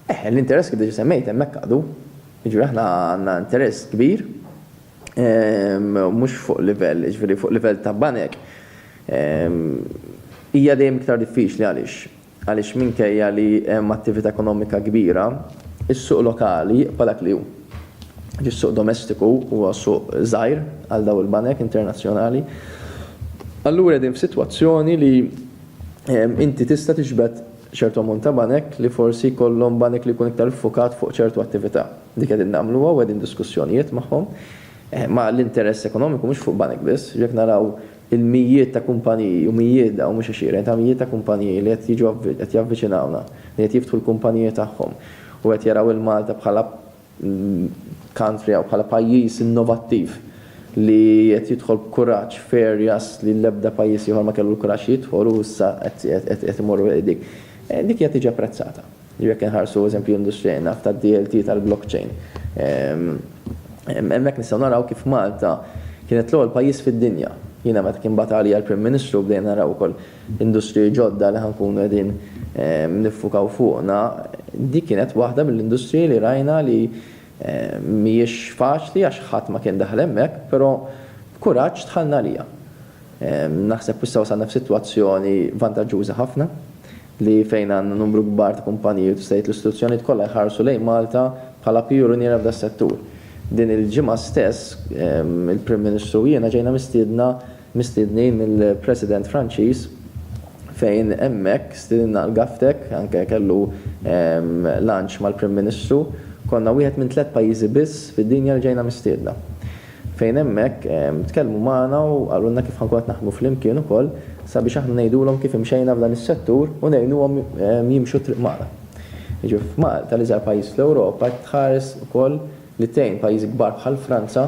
Eh, l-interess kif diġa semmejt hemmhekk għadu. Jiġri aħna għandna interess kbir ehm, mhux fuq livell, jiġri fuq livell ta' banek. Ehm, hija dejjem iktar diffiċli għaliex. Għaliex minkejja li hemm attività ekonomika kbira, is-suq lokali palak li hu. Is-suq domestiku huwa suq żgħir għal daw il-banek internazzjonali. Allura din f'sitwazzjoni li Inti tista' tiġbed ċertu ammont ta' banek li forsi jkollhom banek li jkun iktar iffukat fuq ċertu attività. Dik qegħdin nagħmluha u qegħdin diskussjonijiet magħhom. Ma l-interess ekonomiku mhux fuq banek biss. Jekk naraw il-mijiet ta' kumpaniji u mijiet dawn mhux għexieren ta' mijiet ta' kumpaniji li qed jiġu qed javviċinawna, li qed jiftħu l-kumpaniji tagħhom u qed jaraw 'il Malta bħala l-country jew bħala pajjiż innovattiv li qed jidħol b'kuraġġ f'areas li l-ebda pajjiż ieħor ma kellu l-kuraġġ jidħol u issa qed imorru lejn dik. Dik hija tiġi apprezzata. Jiġifieri jekk inħarsu eżempju industrija naf tad-DLT tal-blockchain. Hemmhekk nistgħu naraw kif Malta kienet l-ewwel pajjiż fid-dinja. Jiena meta kien bagħat għalija l-Prim Ministru bdejna naraw ukoll industriji ġodda li ħa nkunu qegħdin niffukaw fuqna, dik kienet waħda mill-industriji li rajna li mhijiex faċli għax ħadd ma kien daħal hemmhekk, però b'kuraġġ dħalna għaliha. Naħseb issa wasalna f'sitwazzjoni vantaġġuża ħafna li fejn għandna numru kbar ta' kumpaniji u tista' tgħid l-istituzzjonijiet kollha jħarsu lejn Malta bħala pijuniera f'das-settur. Din il-ġimgħa stess il-Prim Ministru u jiena ġejna mistiedna mistiednin mill-President Franċiż fejn hemmhekk stiedinna l-GovTech, anke kellu lunch mal-Prim Ministru, konna wieħed minn tliet pajjiżi biss fid-dinja li ġejna mistiedna. Fejn hemmhekk tkellmu magħna u qalulna kif ħankun qed naħdmu flimkien ukoll sabiex aħna ngħidulhom kif imxejna f'dan is-settur u ngħinuhom jimxu t-triq magħna. Jiġifieri f'Malta, l-iżgħar pajjiż fl-Ewropa, qed tħares ukoll li tgħin pajjiżi kbar bħal Franza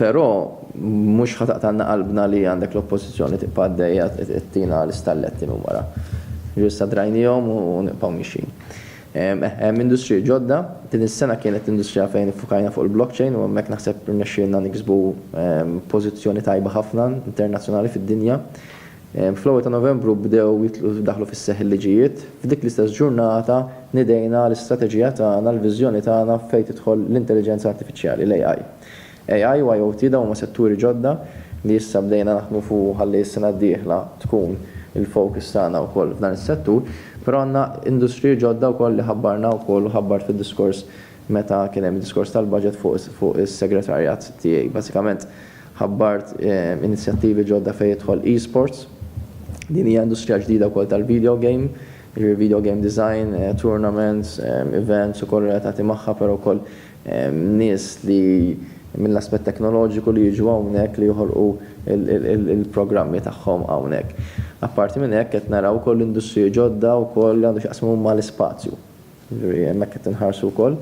Però mhux ħa taqtgħalna qalbna li għandek l-Oppożizzjoni tibqa' għaddejja ttina l-istalletti minn wara. Ġieli issa drajniehom u nibqgħu miexjin. Eħ, hemm industriji ġodda. Din is-sena kienet industrija fejn iffukajna fuq il-blockchain u hemmhekk naħseb irnexxielna niksbu pożizzjoni tajba ħafna internazzjonali fid-dinja. Fl-ewwel ta' Novembru bdew jitlu daħlu fis-seħħ il-liġijiet. F'dik l-istess ġurnata nidejna l-istrateġija tagħna, l-viżjoni tagħna fejn tidħol l-Intelliġenza Artifiċjali, l-AI. AI u IoT dawn huma setturi ġodda li issa bdejna naħdmu fuq u ħalli s-sena d-dieħla tkun il-focus tagħna wkoll f'dan is-settur, però għandna industriji ġodda wkoll li ħabbarna wkoll u ħabbart fid-diskors meta kien hemm id-diskors tal-budget fuq is-segretarjat tiegħi. Bażikament ħabbart inizjattivi ġodda fejn jidħol eSports, din hija industrija ġdida wkoll tal-video game, jiġifieri video game design, tournaments, events ukoll relatati magħha però wkoll Hemm nies li mill-aspett teknoloġiku li jiġu hawnhekk li joħolqu l-programmi tagħhom hawnhekk. Apparti minn hekk qed naraw ukoll industriji ġodda wkoll li għandhom x'jaqsmu mal-ispazju. Jiġifieri hemmhekk qed inħarsu wkoll.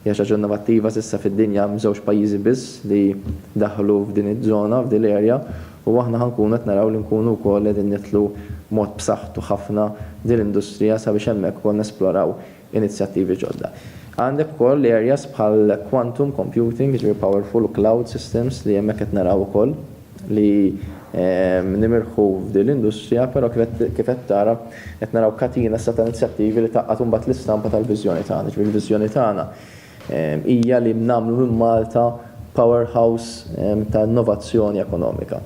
Hija xi ħaġa innovattiva s'issa fid-dinja hemm żewġ pajjiżi biss li daħlu f'din iż-żona, f'din l-area, u aħna ħa nkunu qed naraw li nkunu wkoll qegħdin nidħlu b'mod b'saħħtu ħafna f'din l-industrija sabiex hemmhekk ukoll nesploraw inizjattivi ġodda. Għandek ukoll areas bħal quantum computing, jiġifieri powerful u cloud systems li hemmhekk qed naraw ukoll li nimirħu f'din l-industrija, però kif qed kif qed tara qed naraw katina issa ta' inizjattivi li tgħaqqad imbagħad l-istampa tal-viżjoni tagħna, jiġifieri l-viżjoni tagħna hija li nagħmlu minn Malta powerhouse ta' innovazzjoni ekonomika.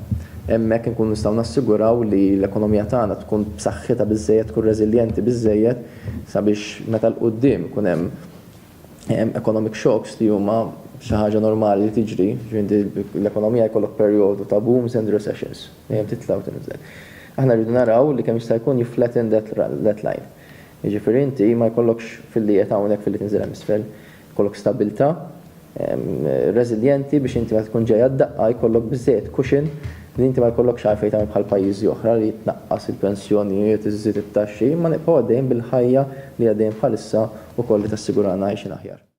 Hemmhekk inkunu nistgħu nassiguraw li l-ekonomija tagħna tkun b'saħħitha biżżejjed, tkun reżiljenti biżżejjed sabiex meta 'l quddiem ikun hemm economic shocks li huma xi ħaġa normali li tiġri, ġifieri l-ekonomija jkollok perjodu ta' booms and recessions, dejjem titla' u tinżel. Aħna rridu naraw li kemm jista' jkun jifflatten that line. Jiġifieri inti ma jkollokx filli qiegħed hawnhekk filli tinżel hemm isfel. Jkollok stabbiltà, reżiljenti biex inti meta tkun ġejja d-daqqa jkollok biżżejjed cushion li inti ma jkollokx għalfejn tagħmel bħal pajjiżi oħra li tnaqqas il-pensjonijiet, iżżid it-taxxi, imma nibqgħu għaddejjin bil-ħajja li għaddejjin bħalissa u kolli tassigurana għajxien aħjar.